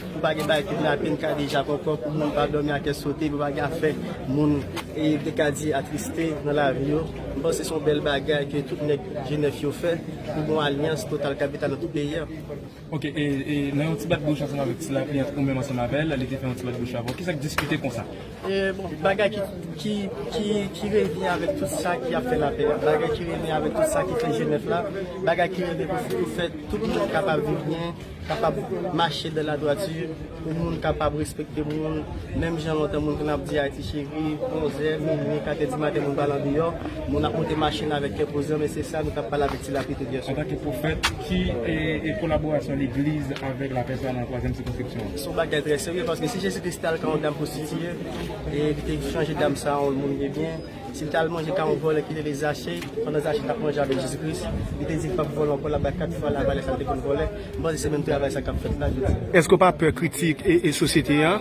Pou pa gen bagay kidnapin, kadeja, kòkò, pou moun pa dòmi a kè sote, pou pa gen afè moun e te ka di atriste nan lavi yo. M panse se yon bèl bagay ke tout nèg Jenèf yo fè pou gen yon alyans total kapital nan tout peyi a. Ok, e nan yon ti bat bouch ansanm avèk ti lapli ant ou menm ansanm avè l, li te fè yon ti bat bouch avè w. Kisa k diskite konsa? E bon, bagay ki, ki, ki, ki revni avèk tout sa ki ap fè lapè a. Bagay ki revni avèk tout sa ki fè Jenèf la. Bagay ki revni pou fè tout moun kapab viv byen. kapab mache dan la dwati, pou moun kapab respekte moun, menm jan lontan moun konn ap di Ayiti cheri, onzè, minwi, katè di maten moun pral andeyò, moun ap monte machin avèk kè poze, men se sa nou tap pale avèk ti lapli tout yèswa. Antanke pwofèt, ki kolaborasyon legliz avèk lapè sa nan twazyèm sikonskripsyon an? Se yon bagay trè serye, paske si Jezi Kris tal ka yon dam pwostitiye, e li te chanje dam sa an yon moun debyen, Misye te al manje ka yon vòlè ki rele Zache. Pandan Zache t ap manje avèk Jezi Kris, li te di l pap vòlè ankò, l ap bay kat fwa lavalè sa l te konn vòlè. M panse se menm travay sa k ap fèt la jodi a. Èske w pa pè kritik sosyete a?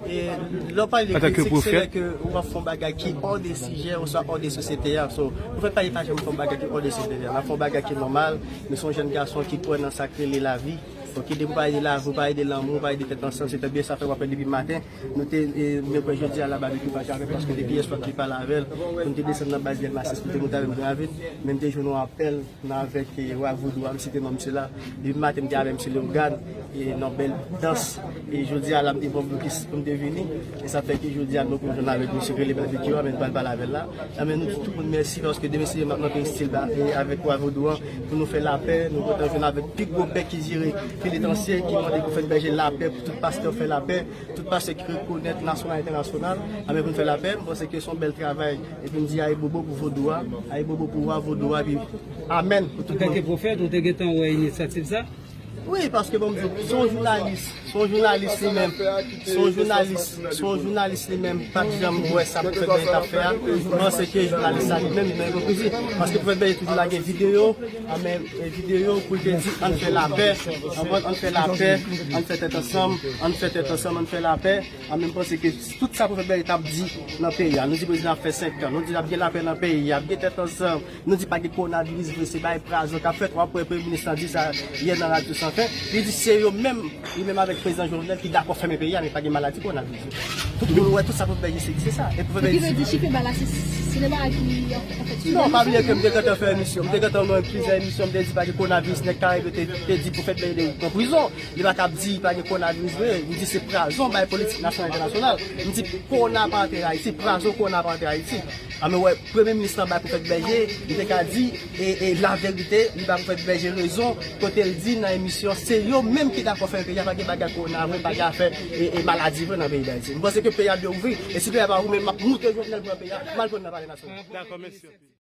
Lè w pale de kritik, se lè ke w ap fè yon bagay ki ò de sijè oswa ò de sosyete a. So, Pwofèt Pali pa janm fè yon bagay ki ò de sosyete a. L ap fè yon bagay ki nòmal. Misye se yon jèn gason ki kwè nan sa k rele lavi. Donk, depi w pale de lavi, w pale de lanmou, w pale de tèt ansanm, se trè byen. Sa fè w ap fè depi maten. Nou te mèkwè jodi a la Babekyou pa janm paske depi yè swa m te pale avè l pou m te desann nan baz Delmas esplike m ta grave men m te jwenn yon apèl nan avèk wa vodou a m site non msye la depi maten m te avè msye Leogane nan bèl dans e jodi a la m te pran blokis pou m te vini e sa fè ke jodi a nou kontan avèk msye ki rele Babekyou a men m pral pale avè l la nan men nou di tout moun mèsi paske demen se demen m ap monte estil la avèk wa vodou a pou nou fè lapè nou kontan jwenn avèk pi gwo bèk ki jere. Penitansye ki mande pou fèt bèje lapè pou tout pastè fè lapè, tout pastè ki rekonèt nasyonal entènasyonal anben pou nou fè lapè, m panse ke son bèl travay epi m di ayibobo pou vodou a, ayibobo pou wa vodou a epi amèn pou tout moun. Antanke pwofèt ou te gentan wè inisyativ sa? Wi paske banm di w se yon jounalis, se yon jounalis li menm, se yon jounalis, se yon jounalis li menm pat janm wè sa pwofèt bèje tap fè a, m panse ke jounalis sa li menm li nan ipokrizi paske pwofèt bèje toujou lage videyo, Amen video pou l te di ann fè lapè anpòt ann fè lapè ann fè tèt ansanm ann fè tèt ansanm ann fè lapè amen m panse ke tout sa pwofèt Berry tap di nan peyi a nou di prezidan ap fè 5 kan nou di ap gen lapè nan peyi a ap gen tèt ansanm nou di pa gen kowonaviris vre se bay prazon kap fèt wap wè premye minis lan di sa yè nan radyo san fen li di se yo menm li menm avèk prezidan Jovenel ki dakò fèmen peyi a men pa gen maladi kowonaviris. Pou nou wè tout sa pou nou fè isit. Se sa. E pou fè bèl isit. Ki vle di Chipe Ba la se sinema a ki ap fè tout emisyon. Non, pa bliye ke m te gentan fè emisyon. M te gentan nan plizyè emisyon m te di pa gen konaviris. Nèg Karayib yo te di Pwofèt Bèy Dèy pran prizon. Li pa kab di pa gen konaviris vre. M di se prazon bay politik nasyonal entènasyonal. M di kona pa antere Ayiti. Prazon kona pa antere Ayiti. Annou wè premye minis lan bay Pwofèt Bèy Dèy. Li te ka di. E la verite li pa pou fè bèje rezon kote l di nan emisyon se yo menm ki dakò fèmen peyi a pa gen bagay kowona vre pa gen afè e maladi vre nan peyi dayiti m panse ke peyi a dwe ouvri e si peyi a pa ouvri men map moute jovenel pran peyi a mal konn nan palè nasyonal.